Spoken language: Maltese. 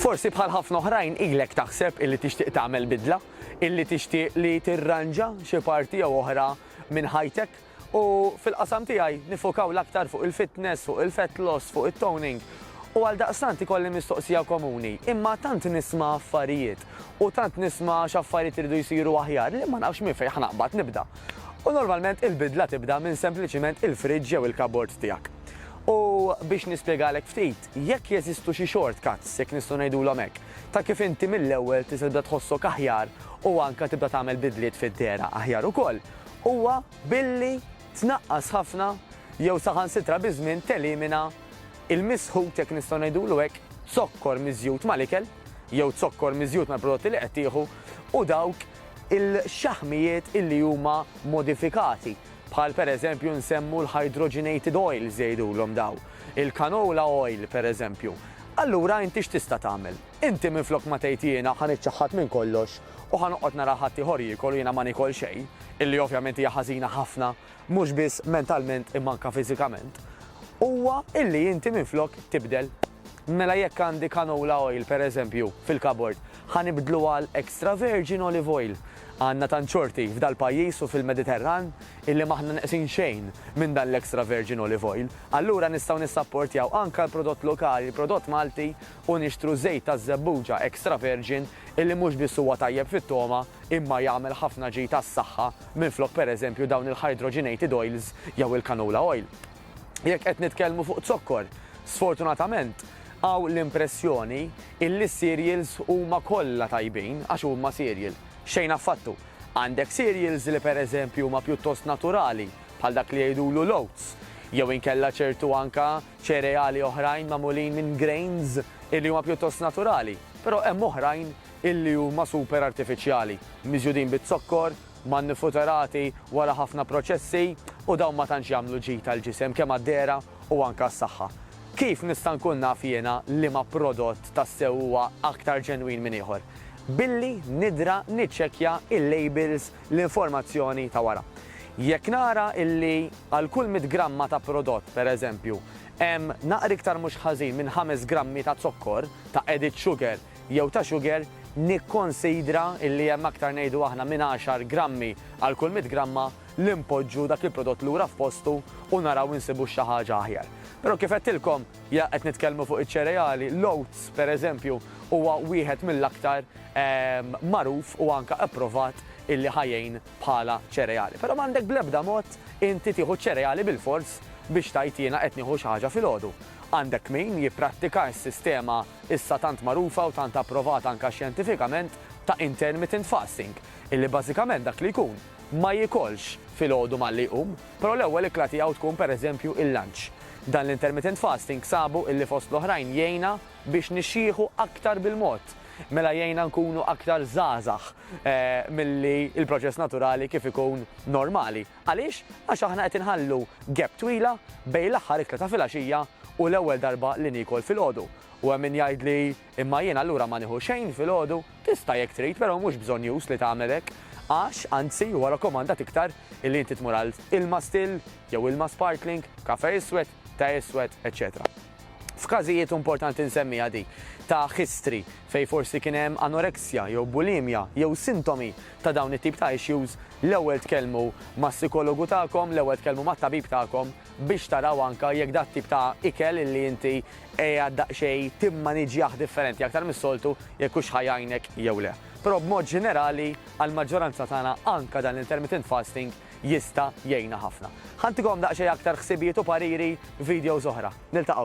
Forsi bħal ħafna oħrajn ilek taħseb illi tixtieq tagħmel bidla, illi tixtieq li tirranġa xi parti jew oħra minn ħajtek. U fil-qasam tiegħi niffokaw l-aktar fuq il-fitness, fuq il-fat loss, fuq it-toning. U għaldaqstant ikolli mistoqsija komuni, imma tant nisma' affarijiet u tant nisma' x'affarijiet iridu jsiru aħjar li ma nafx minn fejn ħa naqbad nibda. U normalment il-bidla tibda minn sempliċiment il-fridge jew il-cupboard tiegħek. U biex nispjegalek ftit, Jekk jeżistu xi short cuts, jekk nistgħu ngħidulhom hekk, ta' kif inti mill-ewwel tista' tibda tħossok aħjar u anke tibda tagħmel bidliet fid-dehra aħjar ukoll, huwa billi tnaqqas ħafna jew saħansitra biż-żmien telimina l-misħut, jekk nistgħu ngħidulu hekk, zokkor miżjud mal-ikel jew zokkor miżjud mal-prodotti li qed tieħu u dawk il-xaħmijiet illi huma modifikati. bħal pereżempju nsemmu l-hydrogenated oils jgħidulhom dawn, il-canola oil pereżempju, allura inti x'tista' tagħmel? Inti minflok ma tgħid jiena ħa niċċaħħad minn kollox u ħa noqgħod nara ħaddieħor jiekol u jiena ma niekol xejn, illi ovvjament hija ħażina ħafna mhux biss mentalment imma anke fiżikament, huwa illi inti minflok tibdel Mela jekk għandi canola oil pereżempju fil-kabord, ħa nibdlu għal extra virgin olive oil. Għandna tant xorti f'dal-pajjiż u fil-Mediterran illi m'aħna neqsin xejn minn dan l-extra virgin olive oil. Allura nistgħu nissapportjaw anke l-prodott lokali, l-prodott Malti u nixtru żejt taż-żebbuġa extra virgin illi mhux biss huwa tajjeb fit-togħma imma jagħmel ħafna ġid għas-saħħa minflok pereżempju dawn il-hydrogenated oils jew il-canola oil. jekk qed nitkellmu fuq zokkor. Sfortunatament, hawn l-impressjoni illi s-cereals huma kollha tajbin għax huma cereal. Xejn affattu. Għandek cereals li pereżempju huma pjuttost naturali, bħal dak li jgħidulu l-oats, jew inkella ċertu anke ċereali oħrajn magħmulin minn grains illi huma pjuttost naturali, però hemm oħrajn illi huma super artifiċjali, miżjudin biz-zokkor manifuturati wara ħafna proċessi u dawn ma tantx jagħmlu ġid għall-ġisem kemm għad-dehra u anke għas-saħħa. Kif nista' nkun naf jiena liema prodott tassew huwa aktar ġenwin minn ieħor? Billi nidra niċċekkja l-labels, l-informazzjoni ta' wara. Jekk nara illi għal kull mitt gramma ta' prodott, pereżempju, hemm naqra iktar mhux ħażin minn ħames grammi ta' zokkor, ta' added sugar, jew ta' sugar, nikkonsidra illi hemm aktar ngħidu aħna minn għaxar grammi għal kull mitt gramma li npoġġu dak il-prodott lura f'postu u naraw insibu xi ħaġa aħjar. Però kif għedtilkom, ja qed nitkellmu fuq iċ-ċereali, l-oats, per eżempju, huwa wieħed mill-aktar magħruf u anke approvat illi ħa jgħin bħala ċereali. Però m'għandek bl-ebda mod inti tieħu ċ-ċereali bil-fors biex tgħid jiena qed nieħu xi ħaġa filgħodu. Għandek min jipprattika s-sistema issa tant magħrufa u tant approvata anke xjentifikament ta' intermittent fasting, illi bażikament dak li jkun ma jiekolx filgħodu malli jqum, però l-ewwel ikla tiegħu tkun pereżempju il-lunch. Dan l-intermittent fasting sabu illi fost l-oħrajn jgħinna biex nixjieħu aktar bil-mod. Mela jgħinna nkunu aktar żgħażagħ. milli l-proċess naturali kif ikun normali. Għaliex? Għax aħna qed inħallu gap twila bejn l-aħħar ikla ta' filgħaxija u l-ewwel darba li niekol filgħodu. U hemm min jgħidli, imma jien allura ma nieħu xejn filgħodu? Tista' jekk trid, però mhux bżonnjuż li tagħmel hekk. Għax, anzi, huwa rakkomandat iktar illi inti tmur għal ilma still, jew ilma sparkling, kafè iswed, ta' iswed, eċċetera F'każijiet, u importanti nsemmiha dik, ta' history fejn forsi kien hemm anoreksja jew bulimja jew sintomi ta' dawn it-tip ta' issues, l-ewwel tkellmu mas-sikologu tagħkom, l-ewwel tkellmu mat-tabib tagħkom biex taraw anke jekk dat-tip ta' ikel illi inti qiegħed daqsxejn timmaniġjah differenti aktar mis-soltu jekk hux ħa jgħinek jew le. Però b'mod ġenerali għall-maġġoranza tagħna anke dan l-intermittent fasting jista' jgħinna ħafna. Ħa ntikom daqsxejn aktar ħsibijiet u pariri f'videos oħra. Niltaqgħu!